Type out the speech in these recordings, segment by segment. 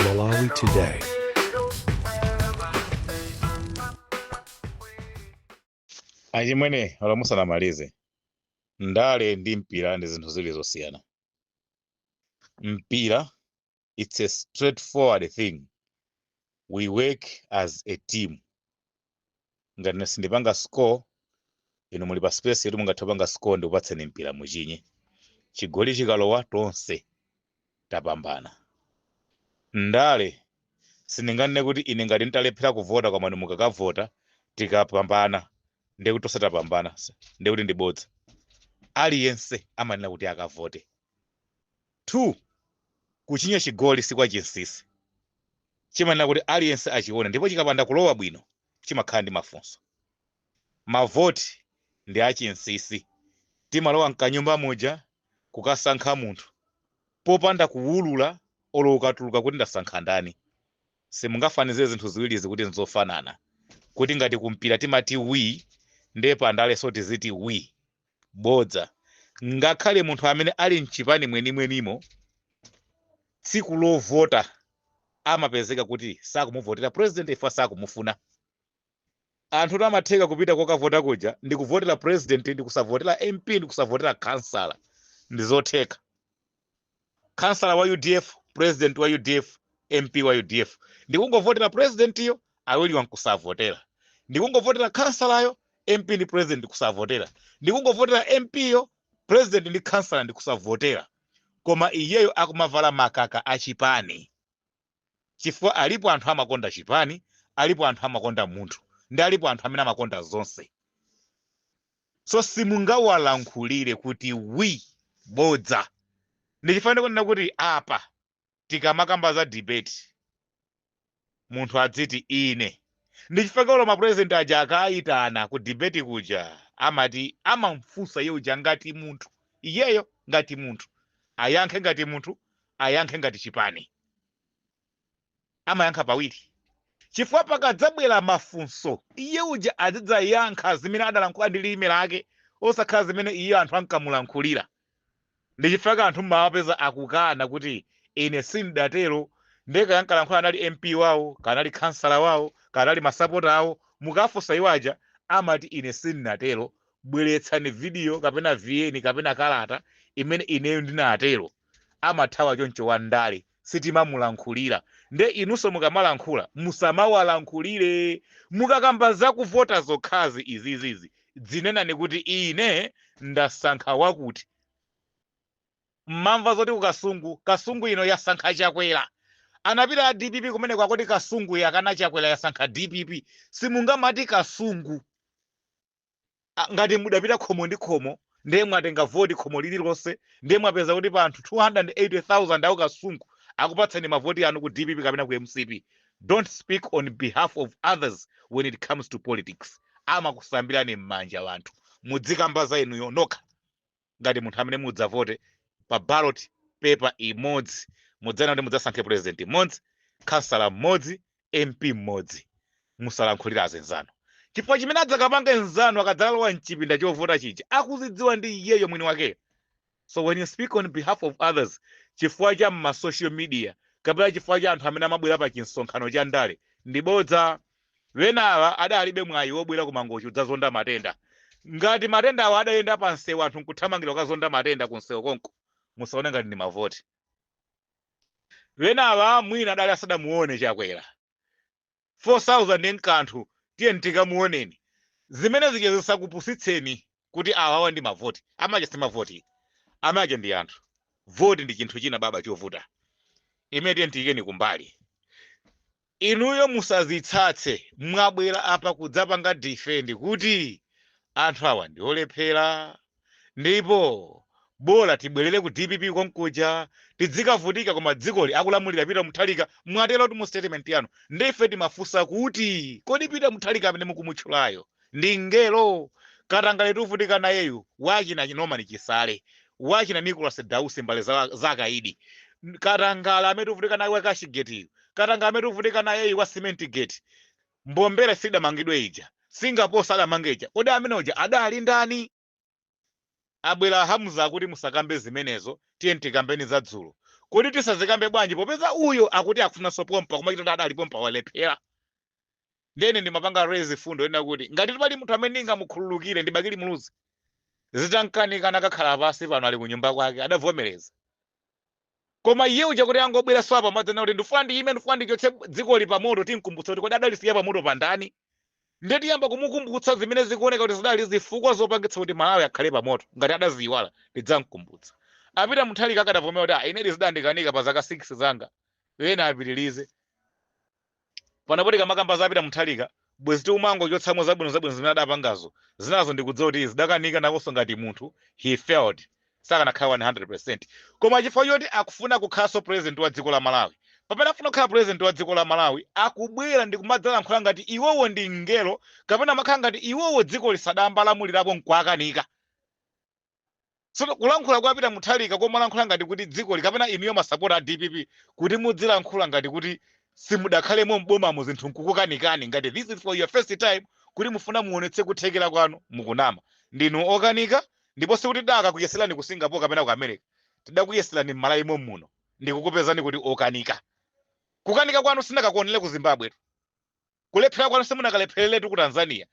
Malawi Today. achimwene olo musanamalize ndale ndi mpira ndi zinthu ziwiri zosiyana mpira it's a straightforward thing we work as a team ngati ine sindipanga score inu muli pa space yoti mungathe kupanga score ndikupatseni mpira muchinye chigoli chikalowa tonse tapambana ndale sindinganene kuti ine ngati nditalephera kuvota koma inu mukakavota tikapambana ndiye kuti tonse tapambana ndiye kuti ndibodza aliyense amayenera kuti akavote 2, Kuchinya chigoli si kwa chinsisi. Chimayenera kuti aliyense achione ndipo chikapanda kulowa bwino chimakhala ndi mafunso. Mavoti ndi a chinsisi. Timalowa mkanyumba muja kukasankha munthu popanda kuwulula olo ukatuluka kuti ndasankha ndani. Simungafanizire zinthu ziwirizi kuti nzofanana. Kuti ngati ku mpira timati wii nde pa ndaleso tiziti wii. Bodza. Ngakhale munthu amene ali m'chipani mwenimwenimo, tsiku lovota amapezeka kuti sakumuvotera president chifukwa sakumufuna. Anthu amatheka kupita kokavota kuja ndi kuvotera president ndi kusavotera MP ndi kusavotera khansala. Ndi zotheka. kansala wa udf president wa udf mp wa udf ndikungovotera presidentiyo awiriwa nkusavotera ndikungovotera kansalayo mp ndi president kusavotera ndikungovotera mp yo president ndi kansala ndikusavotera koma iyeyo akumavala makaka achipani chifukwa alipo anthu amakonda chipani, alipo anthu amakonda munthu ndi alipo anthu amene amakonda zonse. So simungawalankhulire kuti wi bodza. Ndi chifukwa ndikunena kuti apa tikamakamba za debate munthu adziti ine. Ndi chifukwa chake olo ma president aja akaitanidwa ku debate kuja amati amamfunsa iye uja ngati munthu iyeyo ngati munthu ayankhe ngati munthu ayankhe ngati chipani amayankha pawiri chifukwa pakadzabwera mafunso iye uja azidzayankha zimene adalankhula ndi lilime lake osakhala zimene iye anthu ankamulankhulira ndi chifukwa chake anthu mmawapeza akukana kuti ine sindidatero ndiye kaya ankalankhula anali mp wawo kanali khansala wawo kanali masapota awo mukafunsa iwo aja amati ine sindinatero bweretsani vidiyo kapena VN kapena kalata imene ineyo ndinatero Amathawa choncho wandale sitimamulankhulira nde inuso mukamalankhula musamawalankhulire mukakamba zakuvota zokhazi izizizi dzinenani kuti ine ndasankha wakuti mumamva zoti kukasungu kasungu ino yasankha chakwera anapita a dpp kumeneko kwakuti kasungu yakana chakwera yasankha dpp simungamati kasungu a, ngati mudapita khomo ndi khomo ndiye mwatenga voti khomo lililonse ndiye mwapeza kuti pa anthu 280,000 awo kasungu akupatsani mavoti anu ku dpp kapena ku mcp don't speak on behalf of others when it comes to politics amakusambirani m'manja anthu muzikamba za inuyo nokha ngati munthu amene mudzavote pa ballot paper imodzi mudzana kuti mudzasankhe president mmodzi khansala mmodzi mp mmodzi musalankhulire anzanu chifukwa chimene adzakapange mnzanu akadzalowa mchipinda chovota chija akuzidziwa ndi iyeyo mwini wakeyo so when you speak on behalf of others chifukwa cha ma social media kapena chifukwa cha anthu amene amabwera pa chimsonkhano cha ndale ndi bodza Enawa adalibe mwayi wobwera ku Mangochi kudzazonda matenda. Ngati matendawa adayenda pamsewu anthu n'kuthamangira kukazonda matenda kumsewu konko, musaone ngati ndi mavoti. Enawa mwina adali asadamuone Chakwera. 4,000 n'kanthu, tiyeni tikamuoneni. Zimene zija zisakupusitseni. kuti awawa ndi mavoti amaja si mavoti amaja ndi anthu voti ndi chinthu china baba chovuta imene tiye tiikeni kumbali inuyo musazitsatse mwabwera apa kudzapanga defend kuti anthu awa ndi olephera ndipo bola tibwerere ku dpp konkuja tidzikavutika koma dzikoli akulamulira peter mutharika mwatero kuti mu statement yanu ndiye ife timafunsa kuti kodi peter mutharika amene mukumutchulayo ndi mngelo, katangale tuvutika nayeyu, wa achina Norman Chisale, wa achina Nicholas Dausi mbale za, za akaidi, N- katangale amene tuvutika naye wa cash gate yu, katangale amene tuvutika nayeyu wa cement gate, mbombera sidamangidwe ija, Singapore adamanga ija, kodi amene uja adali ndani? Abwera Hamza akuti musakambe zimenezo tiyeni tikambeni za dzulo. Kodi tisazikambe bwanji popeza uyo akuti akufunanso pompa koma chikhala adali pompa walephera. Ndiye ine ndimapanga raise mfundo yonena kuti ngatitu pali munthu amene ndingamukhululukire ndi Bakili Muluzi. Zitam'kanika anakakhala pansi pano ali kunyumba kwake adavomereza. Koma iye uja kuti angobweranso apa n'kumadzanena kuti ndifuna ndiime, ndifuna ndichotse dzikoli pamoto, tim'kumbutsa kuti kodi adalisiya pamoto pa ndani? Ndiye tiyamba kumukumbutsa zimene zikuoneka kuti zidali zifukwa zopangitsa kuti Malawi akhale pamoto. Ngati adaziiwala, ndidzam'kumbutsa. A Peter Mutharika akadavomera kuti, ah, inedi zidandikanika pa zaka 6 zanga, ena apitirize. Panopo tikamakamba za Peter Mutharika, bwezi tikumangochotsamo zabwino zabwino zimene adapangazo, zinazo ndikudziwa kuti zidakanika nakonso ngati munthu, he failed, sakanakhala 100%. Koma chifukwa choti akufuna kukhalanso president wa dziko la Malawi, pamene afuna kukhala president wa dziko la Malawi, akubwera ndikumadzalankhula ngati iwowo ndi mngelo kapena kumakhala ngati iwowo dzikoli sadayamba lamulirapo nkuwakanika. So kulankhula kwa Peter Mutharika komalankhula ngati kuti dzikoli kapena inuyo masapota a dpp kuti mudzilankhula ngati kuti simudakhalemo m'bomamo zinthu nkukukanikani ngati this is for your first time kuti mufuna muonetse kuthekera kwanu mukunama. Ndinu okanika ndipo sikuti tidakakuyeserani ku Singapore kapena ku America. Tidakuyeserani m'Malawi mommuno ndikukupezani kuti okanika. Kukanika kwanu sinakakuonere ku Zimbabwetu. Kulephera kwanu simunakalephereretu ku Tanzania.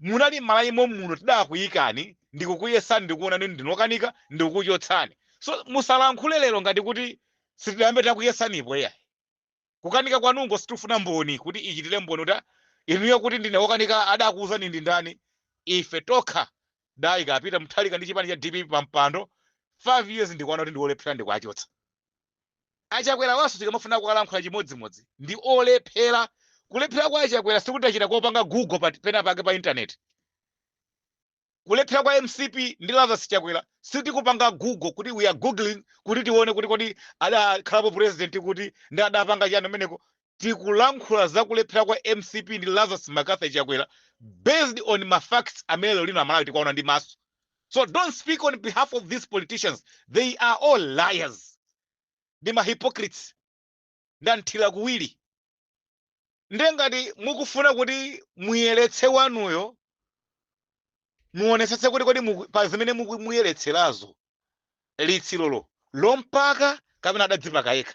Munali m'Malawi mommuno tidakuyikani ndikukuyesani ndikuwonani kuti ndinu okanika ndikukuchotsani. So musalankhule lero ngati kuti sitidayambe takuyesanipo iyayi. Kukanika kwanunko sitifuna mboni kuti ichitire mboni kuti a inuyo kuti ndine okanika adakuwuzani ndi ndani? Ife tokha tidayika a Peter Mutharika ndi chipani cha dpp pampando, 5 years ndikuwona kuti ndiwolephera ndikuwachotsa. A Chakwerawanso tikamafuna kuwalankhula chimodzimodzi ndi olephera. Kulephera kwa a Chakwera sikuti tachita kopanga Google penapake pa internet. Kulephera kwa mcp ndi Lazarus Chakwera sitikupanga Google kuti we are googling kuti tione kuti kodi adakhalapo president kuti ndi adapanga chani kumeneko. tikulankhula za kulephera kwa mcp ndi Lazarus Mccarthy Chakwera based on ma facts amene lero lino amalawi tikuwaona ndi maso so don't speak on behalf of these politicians they are all liars ndi ma hypocrites ndamthira kuwiri nde ngati mukufuna kuti muyeretse wanuyo muonetsetse kuti kodi muku- pa zimene muku- muyeretserazo litsirolo lompaka kapena adadzipaka yekha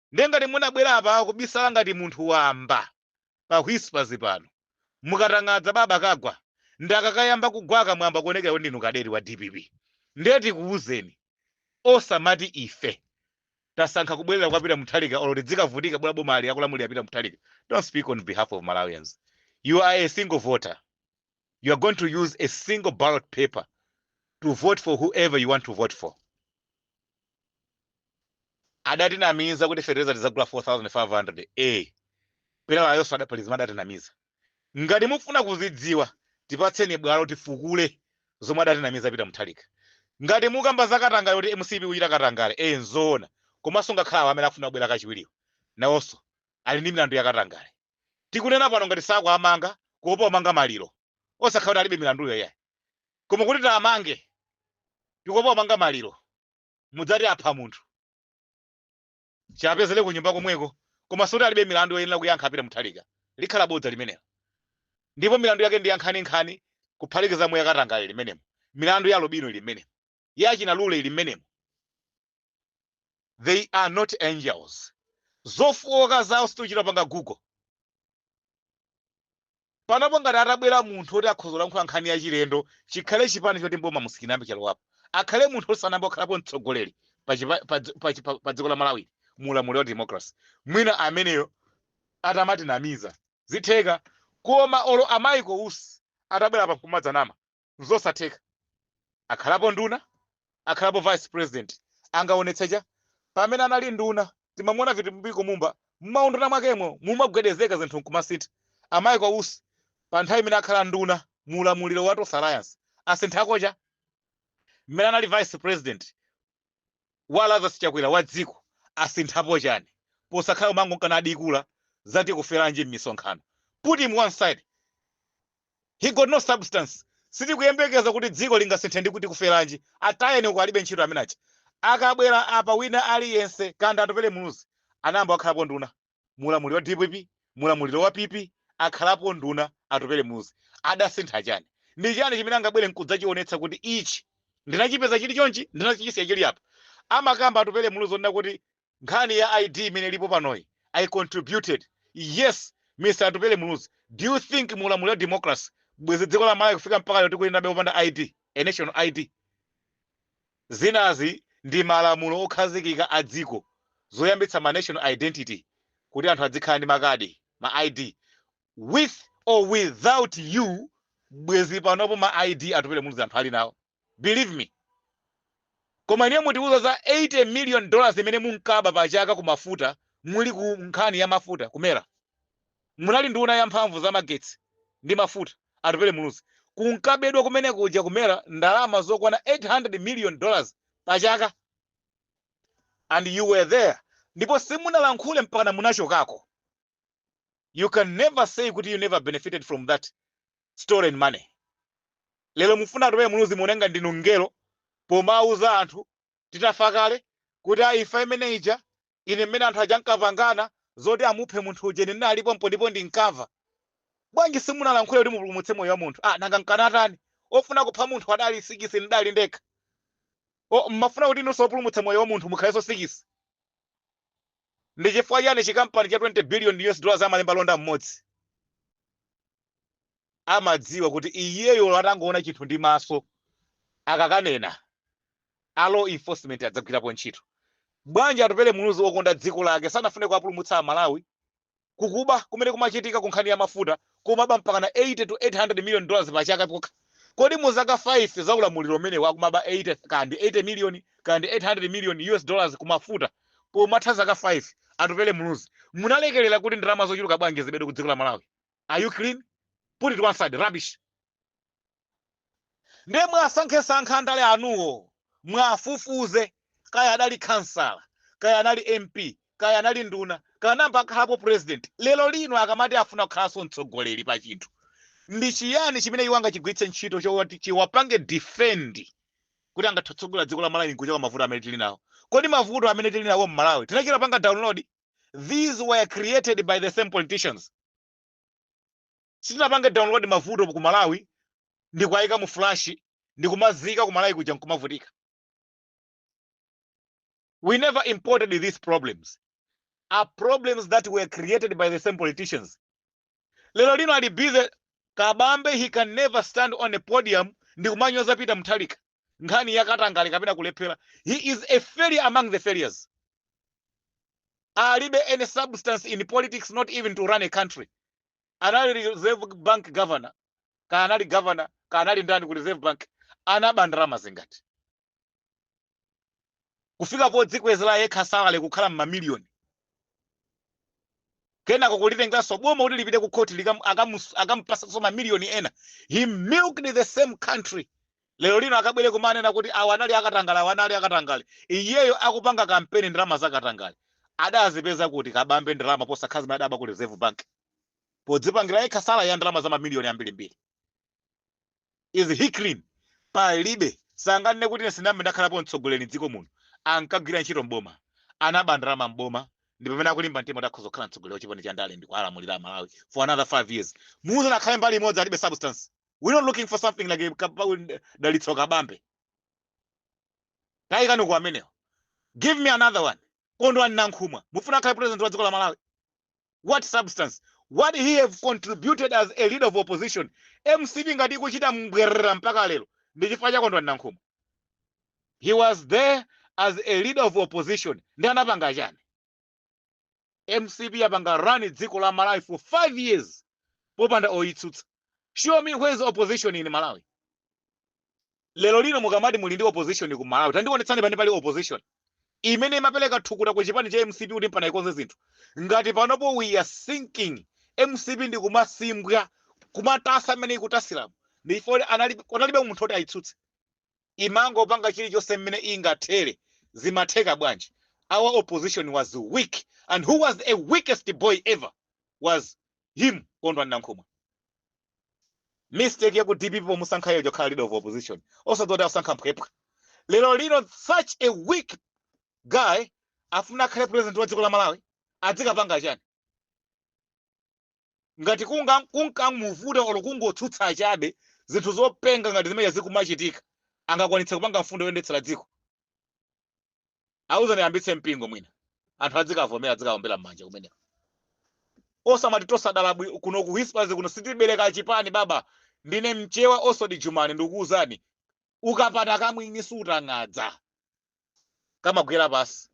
Ndiye ngati munabwera apa kubisala ngati munthu wamba pa Whispers pano, mukatang'adza baba kagwa nde kakayamba kugwaka mwayamba kuonekera kuti ndinu kadeti wa dpp. Ndiye tikuuzeni osamati ife tasankha kubwerera kwa Peter Mutharika olo tidzikavutika bola boma ali akulamulira Peter Mutharika. Don't speak on behalf of Malawians. You are a single voter. you are going to use a single ballot paper to vote for whoever you want to vote for adatinamiza kuti fertilizer tizagula 4500 a pelawayonso adapalizima adatinamiza ngati mufuna kuzidziwa tipatseni bwalo tifukule zomwe adatinamiza peter mutharika ngati mukamba za katangale kuti mcp ikuchita katangale e nzoona komanso ngakhale awo amene afuna kubwera kachiwiriwo nawonso ali ndi milandu ya katangale Tikunena pano ngati sakuamanga kuopa kumanga maliro osakhala kuti alibe milanduyo iyayi. Koma kuti tiamange tikuopa kumanga maliro mudzati apha munthu. Tiyapezera kunyumba komweko koma sikuti alibe milandu yoyenera kuyankha a Peter Mutharika. Likhala bodza limenelo. Ndipo milandu yake ndi ya nkhaninkhani kuphatikizamo ya katangale ili mmenemo. Milandu ya alubino ili mmenemo. ya achina Lule ili mmenemo? They are not angels. Zofooka zawo sitichita kupanga Google. Panopo ngati atabwera munthu oti akhoza kulankhula nkhani yachilendo, chikhale chipani choti mboma musikinambe chalowapo. Akhale munthu osanamba okhalapo mtsogoleri pa chipa- pa dzi- pa chipa- pa dziko la Malawi mu ulamuliro wa democracy. Mwina ameneyo atamatinamiza zitheka koma olo a Michael Usi atabwera pano nkumadzanama nzosatheka akhalapo nduna akhalapo vice president angaonetse chani pamene anali nduna timamuona Vitumbiko Mumba mmaunduna mwakemo mumagwedezeka zinthu nkumasintha a Michael Usi pa nthawi imene akhala nduna mu ulamuliro wa Tonse Alliance asinthako chani mmene anali vice president wa Lazarus Chakwera wa dziko asinthapo chani posakhala kumangomka nadikula za Tikuferanji mmisonkhano put him one side he got no substance sitikuyembekeza kuti dziko lingasinthe ndi Tikuferanji atayeni uko alibe ntchito amene aja akabwera apa wina aliyense kaya ndi Atupele Muluzi anayamba akhalapo nduna mulamuliro wa dpp mulamuliro wa pp akhalapo nduna atupele muluzi adasintha chani ndi chani chimene angabwere nkudzachionetsa kuti ichi ndinachipeza chili chonchi ndinachisiya chili apa amakamba atupele muluzi onena kuti nkhani ya id imene ilipo panoyi i contributed yes mr atupele muluzi do you think mulamuliro wa democracy bwezi dziko la malawi kufika mpaka lero tikuyendabe kupanda id a national id Zinazi ndi malamulo okhazikika a dziko zoyambitsa ma national identity kuti anthu adzikhala ndi makadi, ma ID, with or without you bwezi panopo ma ID atupele muluzi anthu alinawo believe me koma inuyo mutiuza za 80 million dollars imene munkaba pa chaka ku mafuta muli ku nkhani ya mafuta ku MERA munali nduna ya mphamvu za magetsi ndi mafuta Atupele Muluzi, kunkabedwa kumene kuja ku MERA ndalama zokwana 800 million dollars pa chaka and you were there ndipo simunalankhule mpakana munachokako. You can never say kuti you never benefited from that stolen money. Lero mufuna Atupele Muluzi muoneke ngati ndinu mngelo pomauza anthu titafa kale kuti a imfa imene ija Ine mmene anthu aja ankapangana zoti amuphe munthu uja ine ndinali pompo ndipo ndinkamva. Bwanji simunalankhule kuti mupulumutse moyo wa munthu? Ah, nanga nkanatani? Ofuna kupha munthu adali sikisi ndidali ndekha. O, mmafuna kuti inunso opulumutsa moyo wa munthu mukhalenso sikisi? Ndi chifukwa chiyani chikampani cha 20 billion US dollars amalemba londa mmodzi? amadziwa kuti iyeyo olo atangoona chinthu ndi maso akakanena a law enforcement adzagwirapo ntchito bwanji atupele muluzi okonda dziko lake sanafune kuwapulumutsa amalawi kukuba kumene kumachitika ku nkhani ya mafuta kumaba mpakana 80 to 800 million dollars pa chaka kokha kodi mu zaka 5 za ulamuliro umenewu akumaba 80 kanthi 80 million kanthi 800 million us dollars kumafuta pomatha zaka 5 atupele muluzi munalekerera kuti ndalama zochuluka bwanji zibedwe ku dziko la malawi are you clean put it one side rubbish ndiye mwasankhesankha wandale wanuyo mwafufuze kaya adali khansala kaya anali mp kaya anali nduna kaya nnamba akhalapo president lero lino akamati afuna kukhalanso mtsogoleri pa chinthu ndi chiyani chimene iwo angachigwiritse ntchito choti chiwapange defend kuti angatsogolere dziko la malawi nkuchoka mavuto amene tili nawo kodi mavuto amene tili nawo mmalawi tinachita panga download these were created by the same politicians sitinapange download mavuto ku malawi ndikuayika mu flash ndikumaziika ku malawi kuja nkumavutika we never imported these problems are problems that were created by the same politicians lero lino ali busy kabambe he can never stand on a podium ndikumanyoza peter mutharika nkhani ya katangale kapena kulephera he is a failure among the failures alibe any substance in politics not even to run a country anali reserve bank governor kanali governor kanali ndani ku reserve bank anaba ndalama zingati kufika podzikwezera yekha salary kukhala m'mamiliyoni kenako kulitengeranso boma kuti lipite ku khothi akamupasanso mamiliyoni ena he milked the same country lero lino akabwere kumanena kuti awa anali akatangale awa anali akatangale iyeyo akupanga kampeni ndalama za katangale adazipeza kuti kabambe ndalama posakhala zimene adaba ku reserve bank podzipangira yekha salary ya ndalama za mamiliyoni ambirimbiri is he clean palibe sanganene kuti ine sinambe ndakhalapo mtsogoleri mdziko muno ankagwira ntchito mboma anaba ndalama mboma ndi pamene akulimba mtima kuti akhoza kukhala mtsogoleri wa chipani cha ndale ndi kulamulira malawi for another five years muuzane akhale mbali imodzi alibe substance we're not looking for something like dalitso kabambe tayikani uko amenewo give me another one kondwani nankhumwa mufuna akhale president wa dziko la malawi what substance would he have contributed as a leader of opposition mcp ngati ikuchita mbwerera mpaka lero ndi chifukwa cha kondwani nankhumwa he was there as a leader of opposition ndi anapanga chani mcp yapanga run dziko la malawi for five years popanda oyitsutsa show me where is opposition in malawi lero lino mukamati muli ndi opposition ku Malawi tandionetsani pamene pali opposition imene imapereka thukuta ku chipani cha mcp kuti mpana ikonze zinthu ngati panopo we are sinking mcp ndi kumasimbwa kumatasa mmene ikutasiramu ndi chifukwa choti anali- kunalibe munthu oti ayitsutse imangopanga chilichonse mmene ingathere zimatheka bwanji our opposition was weak and who was a weakest boy ever was him kondwani nankhumwa mistake ya ku dpp pomusankha iyeyo kukhala leader of opposition osadziwa kuti asankha mphwepwa lero lino such a weak guy afuna akhale president wa dziko la malawi adzikapanga chani ngati kunga- kunkamuvuta olo kungotsutsa chabe zinthu zopenga ngati zimene zikumachitika angakwanitse kupanga mfundo yoyendetsera dziko auzani ayambitse mpingo mwina anthu adzikavomera adzikawombera m'manja kumeneko osamati tosadala bwi- kuno ku whispers kuno sitibereka chipani baba ndine mchewa osodi jumani ndikukuuzani ukapanda kamwini sutangadza kamagwera pansi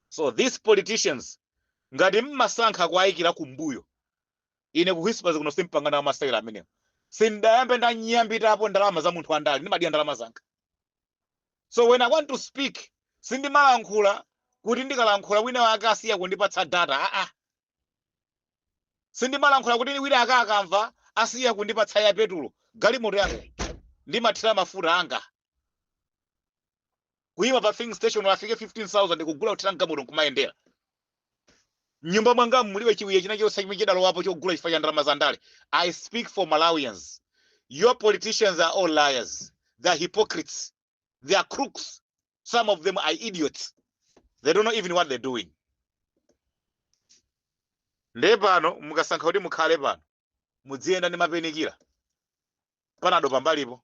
so these politicians ngati mmasankha kuayikira kumbuyo ine ku whispers kuno simpanga nawo masewera amenewo sindayambe ndanyambitapo ndalama za munthu wandale ndimadya ndalama zanga so when i want to speak sindimalankhula kuti ndikalankhula wina wake asiya kundipatsa data aa sindimalankhula kuti wina aka akamva asiya kundipatsa ya petulo galimoto yanga ndimathira mafuta anga kuyima pa filling station ndafika 15000 kugula kuthira mgalimoto nkumayendera mnyumba mwangamu mulibe chiwiya china chonse chimene chidalowapo chogula chifukwa cha ndalama za ndale i speak for malawians your politicians are all liars they are hypocrites they are crooks some of them are idiots they don't know even what they're doing nde pano mukasankha kuti mukhale pano mudziyenda ndi painkiller panado pambalipo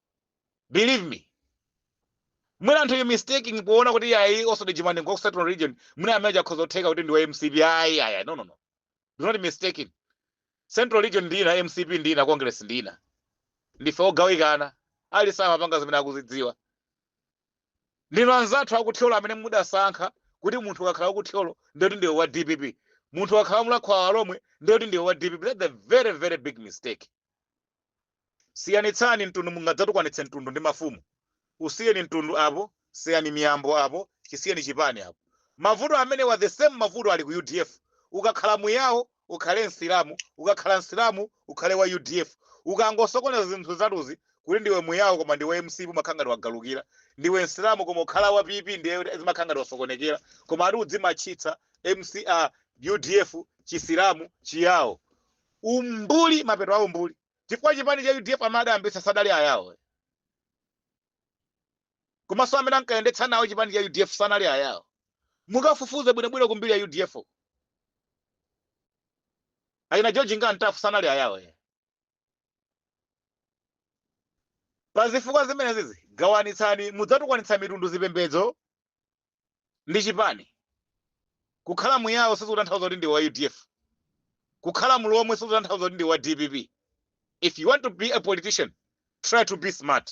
believe me mwina anthu you are mistaking poona kuti ayi osodi jumani ngwa ku central region mwina ameneyu akhoza kutheka kuti ndi wa mcp ayi ayi no no no do not mistaking central region ndina mcp ndina congress ndina ndife ogawikana aliyense amapanga zimene akuzidziwa ndinu anzathu akuthyolo amene mudasankha kuti munthu akakhala wakuthyolo ndiyoti ndiwe wa dpp munthu akakhala mulakho wa alomwe ndiyoti ndiwe wa dpp that's a very very big mistake Siyanitsani mtundu mungadzatukwanitse mtundu ndi mafumu. Usiyeni mtundu apo, siyani miyambo apo, chisiyeni chipani apo. Mavuto amenewa ali the same mavuto ali ku udf. Ukakhala mu Yao ukhale Msilamu, ukakhala Msilamu ukhale wa udf. Ukangosokoneza zinthu zitatuzi kuti ndiwe mu Yao koma ndi wa mcp umakhala ngati wagalukira. Ndiwe Msilamu koma ukhala wa PP ndiye zimakhala ngati wasokonekera. Koma ati udzimatchitsa msce, udf, Chisilamu, Chiyao. Umbuli mapeto a umbuli chifukwa chipani cha udf amene adayambitsa sadali ayawo komanso amene ankayendetsa nawo chipani cha udf sanali ayawo mukafufuze bwinobwino ku mbiri ya udf uko. achina George Nga Mtafu sanali ayawo eh. pa zifukwa zimenezizi gawanitsani mudzatukwanitsa mitundu zipembedzo ndi chipani. Kukhala mu Yao sizikutanthauza kuti ndiwe wa udf. Kukhala mlomwe sizikutanthauza kuti ndiwe wa dpp. If you want to be a politician, try to be smart.